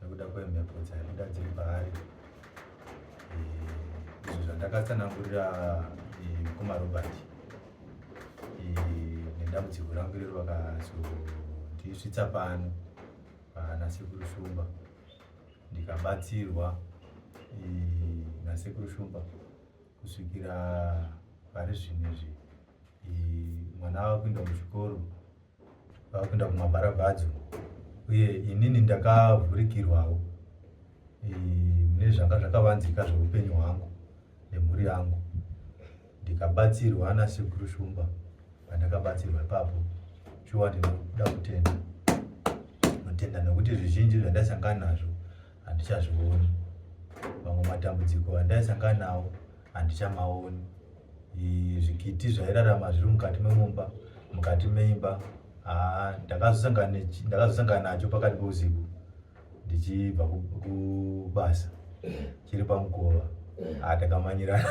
nekuda kwemhepo dzaibuda dziri paari eh, izvo zvandakatsanangurira eh, mukoma robert eh, nedambudziko rangu irero vakazondisvitsa pano nasekuru shumba ndikabatsirwa nasekuru shumba kusvikira pari zvino izvi mwana ava kuenda kuchikoro vakuenda kumabharabhadzo uye inini ndakavhurikirwawo mune zvanga zvakavanzika zveupenyu hwangu nemhuri yangu ndikabatsirwa nasekuru shumba pandakabatsirwa ipapo shuwa ndinoda kutenda kutenda nokuti zvizhinji zvandaisangana nazvo handichazvioni mamwe matambudziko andaisangana nawo handichamaoni zvikiti zvairarama zviri mukati memumba mukati meimba haa ndakazosangana nacho pakati peusiku ndichibva kubasa chiri pamukova haa takamanyirana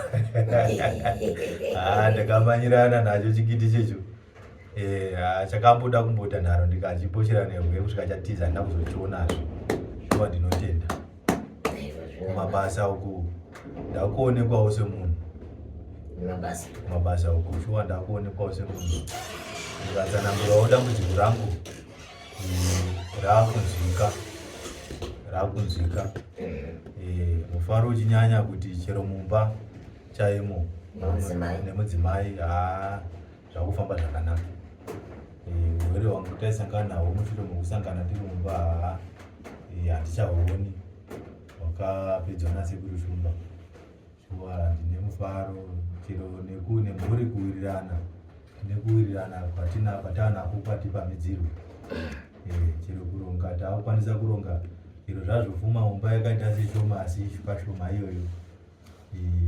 haa takamanyirana nacho chikiti checho Eh, ah, chakamboda kumboita nharo ndikachiposhera nehwe kusvika chatiza handina kuzochionazve shuwa ndinotenda kumabasa uku ndakuonekwawo semunhu kumabasa uku shuwa ndakuonekwawo semunhu ndikatsanangurawo dambudziko rangu mm, raakunzwika raakunzwika eh. Eh, mufaro uchinyanya kuti chero mumba chaimo nemudzimai haa ah. zvakufamba zvakanaka eh, urwere hwangu taisangana nawo mushure mekusangana tiri mumba haa eh, handichahuoni wakapedzwa nasekuru shumba shuwa ndine mufaro chero nekune mhuri kuwirirana tine kuwirirana kwatina kwatanako kwati pamidzirwe eh, chero kuronga taakukwanisa kuronga chero zvazvofuma mumba yakaita seshoma asi pashoma iyoyo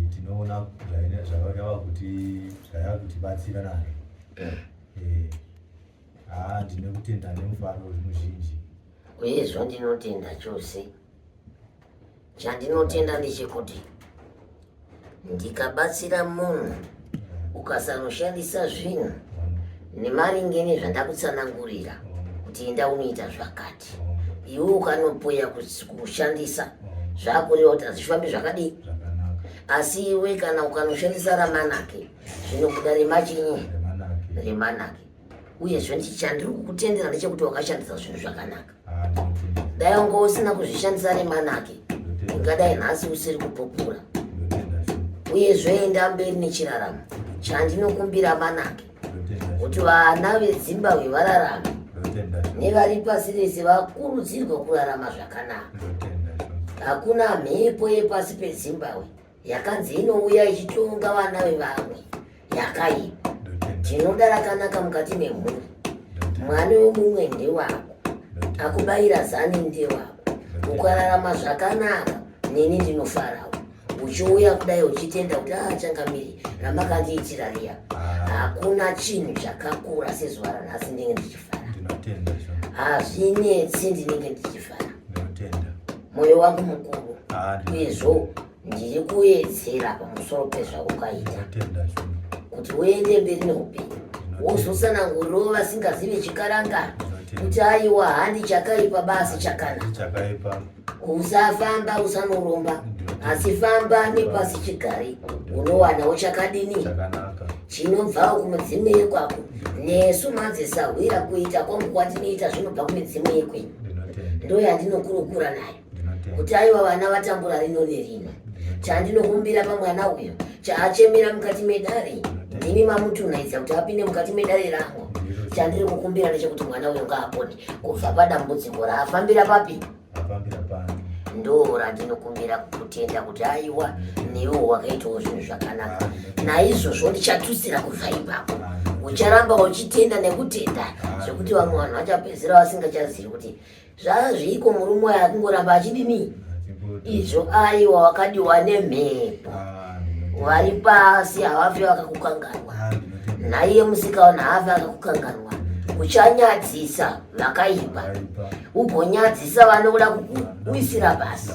tinoona zvayava kuti zvayava kutibatsira nazvo eh. eh, haa ah, ndine kutenda nemufaro muzhinji uye zvandinotenda chose chandinotenda ndechekuti ndikabatsira munhu ukasanoshandisa zvinhu nemaringe nezvandakutsanangurira kuti enda unoita zvakati iwe ukanopoya kushandisa zvakureva kuti hazvifambi zvakadii asi iwe kana ukanoshandisa ramanake zvinokuda remachinyi remanake uyezve ndichandiri kukutendera ndechekuti wakashandisa zvinhu zvakanaka dai wanga usina kuzvishandisa nemanake ungadai nhasi usiri kupupura uyezve enda mberi nechiraramo chandinokumbira manake kuti vana vezimbabwe vararame nevari pasi rese vakurudzirwa kurarama zvakanaka hakuna mhepo yepasi pezimbabwe yakanzi inouya ichitonga vana vevamwe yakaipa tinoda rakanaka mukati memhuri mwana wemumwe ndewako akubayira zani ndewako ukararama zvakanaka neni ndinofarawo uchiuya kudai uchitenda kuti achangamiri ah, ramakandiitira riya ah. hakuna chinhu chakakura sezuva ranhasi ndinenge ndichifara hazvinetsi ndinenge ndichifara moyo wangu mukuru uyezvo ndiri kuedzera pamusoro pezvakukaita kuti uende mberi neupenyu wozotsananguriro vasingazive chikaranga kuti aiwa handi chakaipa basi chakanaka usafamba usanoromba asi famba nepasi chigari unowanawo chakadini chinobvawo kumudzimu yekwako nesu madzisahwira kuita kwangu kwatinoita zvinobva kumidzimu yekwenyu ndo yandinokurukura nayo kuti aiwa vana vatambura rino nerino chandinokumbira pamwana uyo chaachemera mukati medare ndimi mamutunaidza kuti apinde mukati medare rangu chandiri kukumbira ndechekuti mwana uyo ngaapone kubva padambudziko raafambira papi ndo randinokumbira tenda kuti aiwa newo wakaitawo zvinhu zvakanaka naizvozvo ndichatutsira kubva ipapo ucharamba uchitenda nekutenda zvekuti vamwe vanhu vachapedzera vasingachazivi kuti zvaa zviiko murume wayo akungoramba achidini izvo aiwa wakadiwa nemhepo vari pasi havafi vakakukanganwa naiye musikaona haafi akakukanganwa uchanyadzisa vakaipa ugonyadzisa vanoda kukuwisira pasi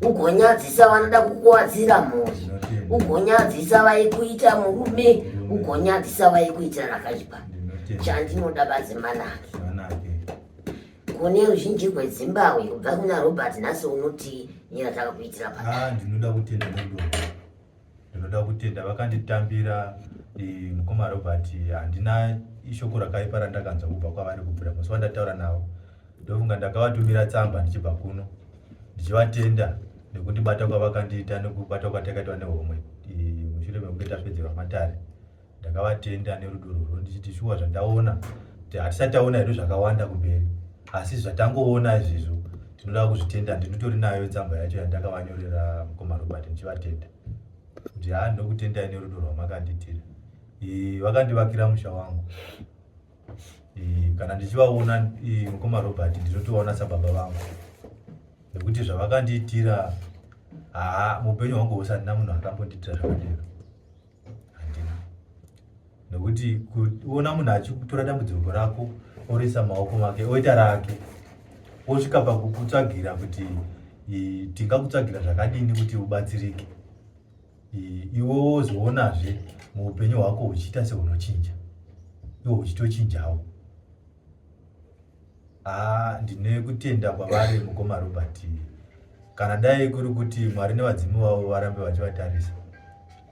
ugonyadzisa vanoda kukuwadzira mhuri ugonyadzisa vaikuita murume ugonyadzisa vaikuitira rakaipa chandinoda badzi manake kune ruzhinji rwezimbabwe kubva kuna robert nhasi unoti nyira takakuitira paa ah, ndinoda kutenda ndinoda kutenda vakanditambira eh, mukoma robert handina ishoko rakaipa randakanzwa kubva kwavari kubvira musi wandataura navo ndofunga ndakavatumira tsamba ndichibva kuno ndichivatenda nekundibata kwavakandiita nekubata kwatakaitwa nehomwe eh, mushure mekunge tapedzerwa matare ndakavatenda nerudo rwurwo ndichiti shuwa zvandaona kuti hatisati taona hedu zvakawanda kumberi asi zvatangoona izvizvo tinoda kuzvitenda ndinotori nayo tsamba yacho yandakavanyorera mukoma robert ndichivatenda kuti haa ndinokutendai nerudo rwamakanditira vakandivakira musha wangu kana ndichivaona mukoma robert ndinotovaona sababa vangu nekuti zvavakandiitira haa muupenyu hwangu husandina munhu akambondiitira zvakadero handina nokuti kuona munhu achikutora dambudziko rako oruisa maoko make oita rake osvika pakukutsvagira kuti tingakutsvagira zvakadini kuti ubatsirike iwe wozoonazve muupenyu hwako huchiita sehunochinja iwo huchitochinjawo Haa ndine kutenda kwavari mukoma Robert. Kana dai kuri kuti Mwari nevadzimu vavo varambe vachivatarisa.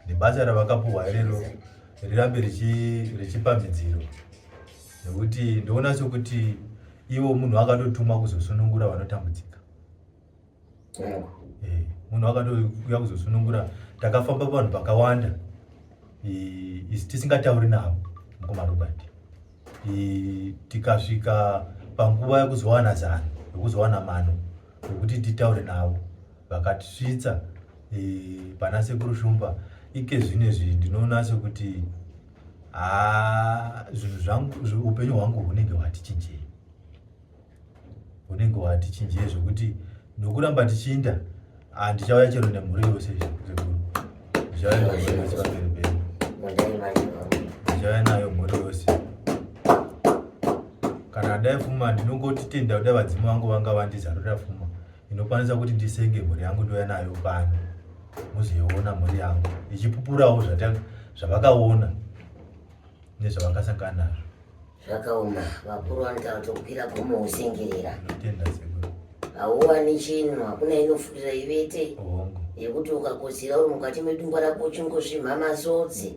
Nebasa ravakapuhwa irero rirambe richipa midziro. Nekuti ndoona sokuti ivo munhu akatotumwa kuzosunungura vanotambudzika. eh, munhu akatouya kuzosunungura takafamba vanhu vakawanda isi tisingatauri navo mukoma robert tikasvika panguva yekuzowana zano yekuzowana mano yekuti titaure navo vakatisvitsa pana sekuru shumba ike zvine zvi ndinoona sekuti haa zvinhu zvangu upenyu hwangu hunenge hwatichinjei unenge wati chinjei zvekuti nokuramba tichiinda handichauya ah, chero nemhuri yose sekuru ndichauya nemhuri yose pamberi pedu ndichauya nayo mhuri yose kana dai fuma ndinongotitenda kudai vadzimu vangu vanga vandizarura fuma inokwanisa kuti ndisenge mhuri yangu ndouya nayo pano muzoiona mhuri yangu ichipupurawo zvavakaona nezvavakasangana nazvo zvakaoma vakuru vanoita vatokwira gomo usengerera hauwani chinhu hakuna inofurira ivete yekuti ukakotsira uri mukati medungwa rako uchingosvimha masodzi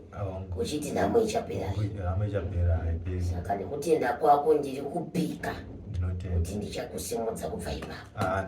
uchiti nhamo ichaperasaka nekutenda kwako ndiri kupika kuti ndichakusimudza kubva ipapo ah,